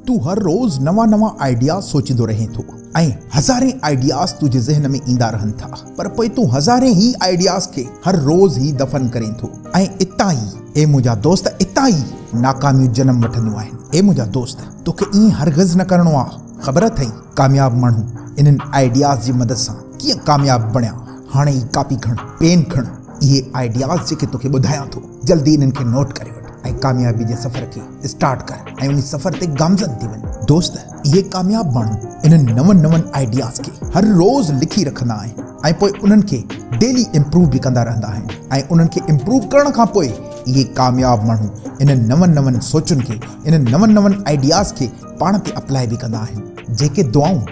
تون هر روز نوان نوان آئيڊياز سوچيندو رهين ٿو ۽ هزارين آئيڊياز تنهنجي ذهن ۾ ايندا رهن ٿا پر پوء تون هزارين هي آئيڊياز کي هر روز هي دفن ڪرين ٿو ۽ اتان ئي اي منهنجا دوست اتان ئي ناڪاميون جنم وٺنديون آهن اي منهنجا دوست توکي ائين هرگز نه ڪرڻو آ خبر اٿئي ڪامياب ماڻهو انهن آئيڊياز جي مدد سان ڪيئن ڪامياب بڻيا هاڻي ئي ڪاپي کڻ پين کڻ اهي آئيڊياز جيڪي توکي ٻڌايان ٿو جلدي انهن کي نوٽ ڪري وٺ ۽ ڪاميابي جي سفر کي اسٽارٽ ڪر ۽ انهي سفر تي گامزن ٿي وڃ دوست اهي ڪامياب ماڻهو انهن نون نون آئيڊياز کي هر روز لکي رکندا آهن ۽ پوء انهن کي ڊيلي امپروو به ڪندا رهندا آهن ۽ انهن کي امپروو ڪرڻ کان پوء اهي ڪامياب ماڻهو انهن نون نون سوچن کي انهن نون نون آئيڊياز کي پاڻ تي اپلائي به ڪندا آهن جيڪي دعائون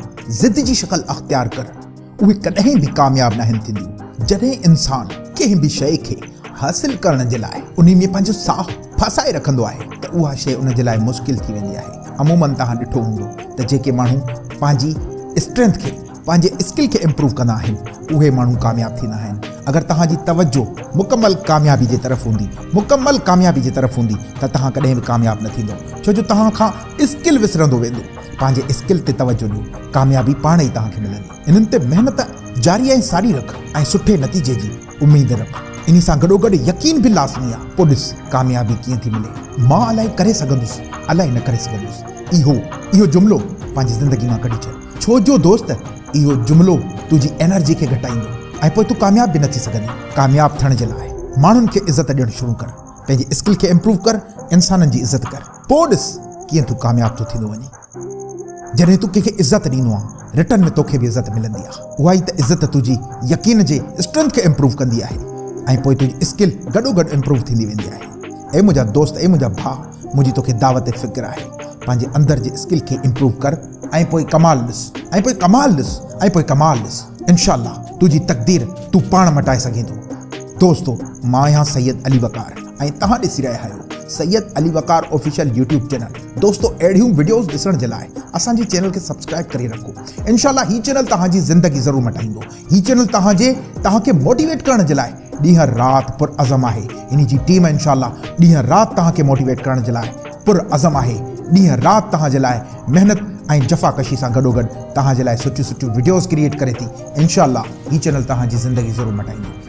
ضد جي شڪل اختيار ڪر اهي ڪڏهن به ڪامياب ناهن ٿينديون. جڏهن انسان ڪنهن به شيء کي حاصل ڪرڻ جي لاء انهي ۾ پنهنجو ساهه ڦاسائي رکندو آهي ته اها شيء ان جي لاء مشڪل ٿي ويندي آهي. عموماً توهان ڏٺو هوندو ته جيڪي ماڻهو پنهنجي اسٽرينٿ کي، پنهنجي اسڪل کي امپروو ڪندا آهن، اهي ماڻهو ڪامياب ٿيندا آهن. اگر توهان جي توجه مڪمل ڪاميابي جي طرف هوندي، مڪمل ڪاميابي جي طرف هوندي ته توهان ڪڏهن به ڪامياب نه ٿيندو ڇو جو توهان کان اسڪل وسرندو ويندو. پنهنجي اسڪل تي توجهه ڏيو، ڪاميابي پاڻ ئي توهان کي ملندي. انهن تي محنت جاري ۽ ساري رک ۽ سٺي نتيجي جي اميد رک. انهي سان گڏوگڏ يقين به لازمي آهي. پوء ڏس ڪاميابي ڪيئن ٿي ملي. مان الائي ڪري سگهندس، الائي نه ڪري سگهندس. اهو اهو جملو پنهنجي زندگي مان ڪڍي ڇڏ. ڇو جو دوست اهو جملو تنهنجي انرجي کي گهٽائيندو ۽ پوء تون ڪامياب به نه ٿي سگهندين. ڪامياب ٿيڻ جي لاء ماڻهن کي عزت ڏيڻ شروع ڪر. پنهنجي اسڪل کي امپروو ڪر، انسانن جي عزت ڪر. پوء ڏس ڪيئن تون ڪامياب ٿو ٿيندو وڃين. جڏهن تون ڪنهن کي عزت ڏيندو آن رٽرن ۾ توکي به عزت ملندي آ. اها ئي ته عزت تنهنجي يقين جي اسٽرينٿ کي امپروو ڪندي آهي ۽ پوء تنهنجي اسڪل گڏوگڏ امپروو ٿيندي ويندي آهي. اي منهنجا دوست اي منهنجا ڀاء منهنجي توکي دعوت فڪر آهي پنهنجي اندر جي اسڪل کي امپروو ڪر. ۽ پوء ڪمال ڏس ۽ پوء ڪمال ڏس ۽ پوء ڪمال ڏس انشاء الله تنهنجي تقدير تون پاڻ مٽائي سگهين ٿو. دوستو مان آهيان سيد علي وقار. ۽ توهان ڏسي رهيا آهيو Syed Ali Waqar official YouTube channel دوستو اهڙيون وڊيوز ڏسڻ جي لاء اسان جي چينل کي سبسڪرائب ڪري رکو انشاء الله هي چينل توهان جي زندگي ضرور مٽائيندو هي چينل توهان جي توهان کي موٽيويٽ ڪرڻ جي لاء ڏينهن رات پر عزم آهي هن جي ٽيم انشاء الله ڏينهن رات توهان کي موٽيويٽ ڪرڻ جي لاء پر عزم آهي ڏينهن رات توهان جي لاء محنت ۽ جفا ڪشي سان گڏو گڏ توهان جي لاء سٺيون سٺيون وڊيوز ڪريئيٽ ڪري ٿي انشاء الله هي چينل توهان جي زندگي ضرور مٽائيندو